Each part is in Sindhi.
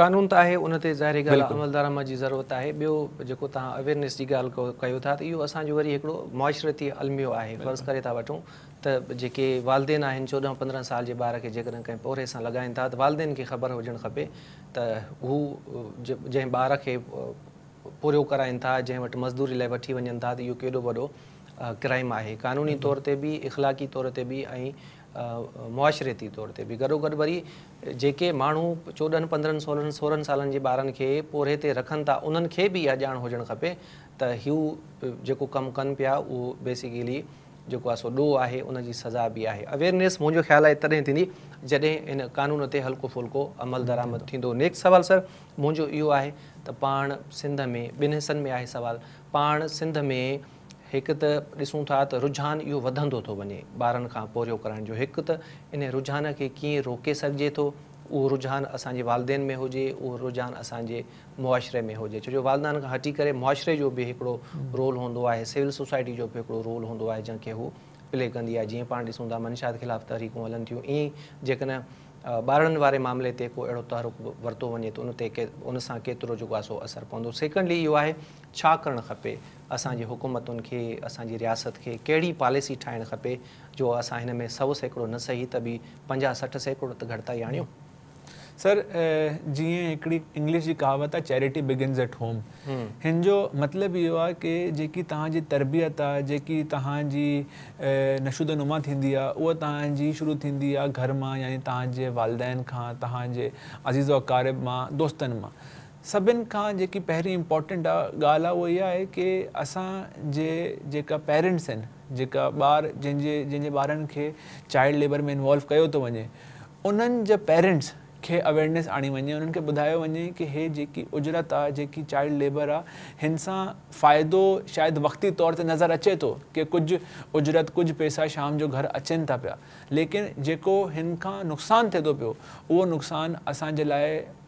قانون ته آهي ان تي ظاهري ڳالهه آهي عملدرآمد جي ضرورت آهي ٻيو جيڪو توهان اويرنيس جي ڳالهه ڪيو ٿا ته اهو اسان جو وري هڪڙو معاشرتي الميو آهي فرض ڪري ٿا وٺون ته جيڪي والدين آهن چوڏهن پندرهن سال جي ٻار کي جيڪڏهن ڪنهن پورهيي سان لڳائين ٿا ته والدين کي خبر هجڻ کپي ته هو جنهن ٻار کي پورهيو ڪرائين ٿا جنهن وٽ مزدوري لاء وٺي وڃن ٿا ته اهو ڪيڏو وڏو ڪرائم آهي قانوني طور تي به اخلاقي طور تي به ۽ معاشرتي طور تي به گڏوگڏ وري جيڪي ماڻهو چوڏهن پندرهن سولهن سورهن سالن جي ٻارن کي پورهيي تي رکن ٿا انهن کي به اها ڄاڻ هجڻ کپي ته هو جيڪو ڪم ڪن پيا اهو بيسيڪلي جيڪو آهي سو ڏوهه آهي ان جي سزا به آهي اويرنيس منهنجو خيال آهي تڏهن ٿيندي جڏهن ان قانون تي هلڪو ڦلڪو عمل درآمد ٿيندو نيڪسٽ سوال سر منهنجو اهو آهي ته پاڻ سنڌ ۾ ٻن حصن ۾ آهي سوال پاڻ سنڌ ۾ هڪ ته ڏسون ٿا ته رجحان اهو وڌندو ٿو وڃي ٻارن کان پورهيو ڪرائڻ جو هڪ ته انهي رجحان کي ڪيئن روڪي سگهجي ٿو اهو رجحان اسان جي والدين ۾ هجي اهو رجحان اسان جي معاشري ۾ هجي ڇو جو والدين کان هٽي ڪري معاشري جو به هڪڙو رول هوندو آهي سول سوسائٽي جو به هڪڙو رول هوندو آهي جنهن کي هو پلي ڪندي آهي جيئن پاڻ ڏسون ٿا منشيات خلاف تحريڪون هلن ٿيون ائين ئي جيڪڏهن ٻارڙن واري معاملي تي ڪو اهڙو تحرڪ ورتو وڃي ته ان تي ان سان ڪيترو جيڪو آهي سو اثر پوندو سيڪنڊلي اهو آهي ڇا ڪرڻ کپي، اسان جي حڪومتن کي، اسان جي رياست کي ڪهڙي پاليسي ٺاهڻ کپي جو اسان هن ۾ سؤ سيڪڙو نه صحيح ته به پنجاهه سٺ سيڪڙو ته گهٽتائي آڻيون. سر جيئن هڪڙي انگلش جي ڪهاوت آ چيريٽي بگنز ايٽ هوم هن جو مطلب اهو آ ڪي جيڪي توهان جي تربيت آ جيڪي توهان جي نشود نما ٿيندي آ اهو توهان جي شروع ٿيندي آ گهر مان يعني توهان جي والدين کان توهان جي عزيز و اقارب مان دوستن مان سڀن کان جيڪي پهرين امپورٽنٽ آ ڳالهه آ اهو اها آهي ڪي اسان جي جيڪا پيرنٽس آهن جيڪا ٻار جن جي جن جي ٻارن کي چائلڊ ليبر ۾ انوالو ڪيو ٿو وڃي انهن جا پيرنٽس کي اويرنيس آڻي وڃي انهن کي ٻڌايو وڃي ڪي هي جيڪي اجرت آ جيڪي چائلڊ ليبر آ هن سان فائدو شايد وقتي طور تي نظر اچي ٿو ڪي ڪجهه اجرت ڪجهه پيسا شام جو گهر اچين ٿا پيا ليڪن جيڪو هن کان نقصان ٿي ٿو پيو اهو نقصان اسان جي لاء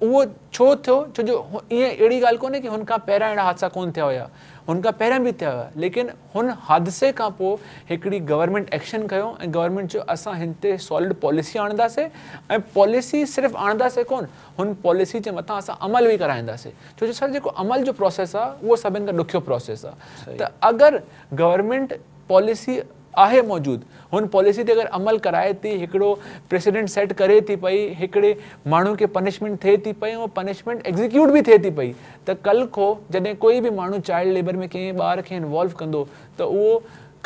اهو ڇو ٿيو؟ ڇو جو ائين اهڙي ڳالهه ڪونهي ڪي هن کان پهريان اهڙا حادثا ڪونه ٿيا هيا. هن کان پهريان به ٿيا هيا ليڪن هن حادثي کان پوء هڪڙي گورنمينٽ ايڪشن کنيو ۽ گورنمينٽ چيو اسان هن تي سالڊ پاليسي آڻنداسي ۽ پاليسي صرف آڻنداسي ڪونه هن پاليسي جي مٿان اسان عمل به ڪرائينداسي ڇو جو سر جيڪو عمل جو پروسيس آ اهو سڀن کان ڏکيو پروسيس آ ته اگر گورنمينٽ پاليسي آهي موجود هن پاليسي تي اگر عمل ڪرائي ٿي هڪڙو پريسيڊنٽ سيٽ ڪري ٿي پئي هڪڙي ماڻهو کي پنشمينٽ ٿئي ٿي پئي ۽ پنشمينٽ ايگزيڪيوٽ به ٿئي ٿي پئي ته ڪل کو جڏهن ڪوئي به ماڻهو چائلڊ ليبر ۾ ڪنهن ٻار کي انوالو ڪندو ته اهو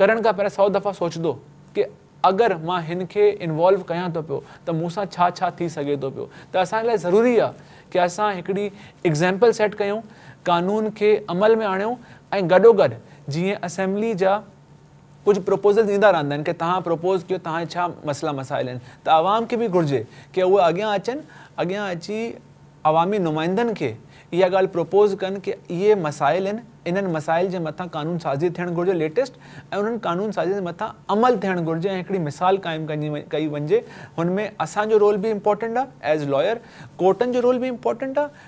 ڪرڻ کان پهريان سئو دفعا سوچدو ڪه اگر مان هن کي انوالو ڪيان ٿو پيو ته مون سان ڇا ڇا ٿي سگهي ٿو پيو ته اسان لاء ضروري آهي ڪه اسان هڪڙي ايگزيمپل سيٽ ڪيون قانون کي عمل ۾ آڻيون ۽ گڏوگڏ جيئن اسيمبلي جا ڪجهه پروپوزلز ايندا رهندا آهن ڪي توهان پروپوز ڪيو توهان جا ڇا مسئلا مسائل آهن ته عوام کي به گهرجي ڪي اهي اڳيان اچن اڳيان اچي عوامي نمائندن کي اها ڳالهه پروپوز ڪن ڪي اهي مسائل آهن انهن مسائل جي مٿان قانون سازي ٿيڻ گهرجي ليٽيسٽ ۽ انهن قانون سازين جي مٿان عمل ٿيڻ گهرجي ۽ هڪڙي مثال قائم ڪئي وڃجي هن ۾ اسان جو رول به امپورٽنٽ آهي ايز لاير ڪورٽن جو رول به امپورٽنٽ آهي